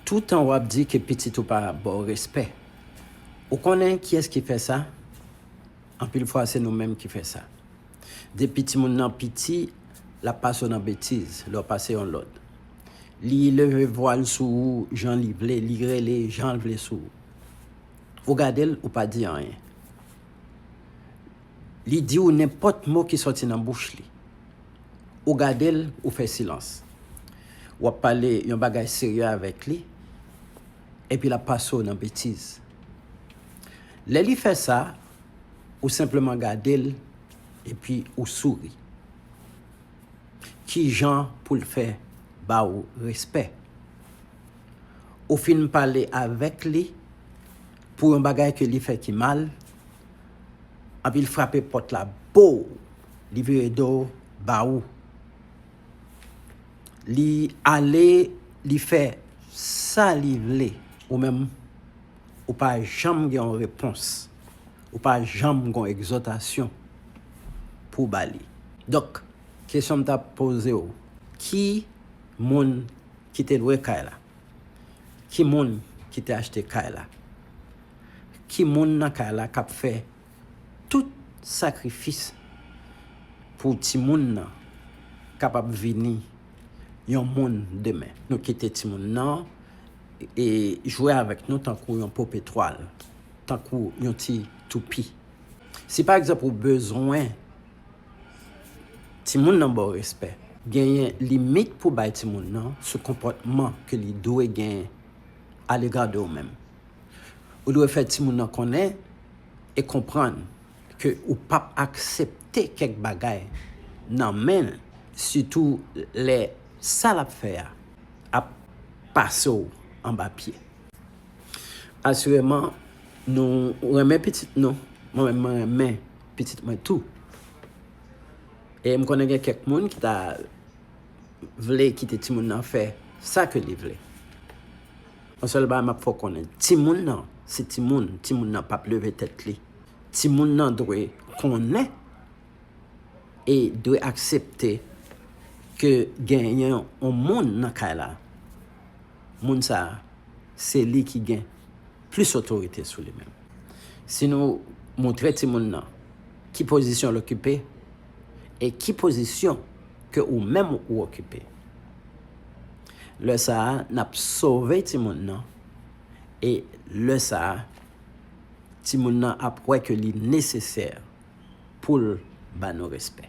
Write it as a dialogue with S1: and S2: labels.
S1: Toutan wap di ke pitit ou pa baw respè. Ou konnen kiyès ki fè sa? Anpil fwa se nou menm ki fè sa. Depi timoun nan piti, lap pase w nan betiz, lè w pase yon lòd. Li leve vwa l sou ou jan li vle, li rele jan l vle sou ou. Ou gade l, ou pa di anyen. Li di ou nenpòt mo ki sòti nan bouch li. Ou gade l, ou fè silans. W ap pale yon bagay serye avèk li, epi l ap pase w nan betiz. Lè li fè sa, ou senpleman gade l, epi ou souri. Ki jan pou l fè ba ou respè? Ou fin pale avèk li pou yon bagay ke li fè ki mal, Anpi l frape pòt la boo! Li vire do ba ou. Li ale li fè sa li vle, ou menm ou pa janm gen yon repons, ou pa janm gen yon egzòtasyon pou w ba li. Donk, kesyon m t ap poze w, ki moun ki te lwe kay la? Ki moun ki te achte kay la? Ki moun nan kay la kap fè tout sakrifis pou timoun nan kapab vini yon moun demen? Nou kite timoun nan e jwe avèk nou tankou yon pope twal, tankou yon ti toupi. Si pa egzanp ou bezwen timoun nan ba w respè. Genyen limit pou bay timoun nan sou konpòtman ke li dwe genyen alega de ou menm. Ou dwe fè timoun nan konnen e konprann ke ou pap aksepte kèk bagay nan men l sitou lè sa l ap fè a ap pase w anba pye. Asireman nou renmen pitit nou, mwen menm mwen renmen pitit mwen tou. E m konnen gen kèk moun ki ta vle kite timoun nan fè sa ke li vle. Yon sèl bagay map fè w konnen, timoun nan se timoun, timoun nan pap leve tèt li, timoun nan dwe konnen e dwe aksepte ke genyen yon moun nan kay la, moun sa se li ki gen plis otorite sou li menm. Si nou moutre timoun nan ki pozisyon l okipe, e ki pozisyon ke ou menm ou okipe. Lè sa a nap sove timoun nan e lè sa a timoun nan ap wè ke li nesesè pou l ba nou respè.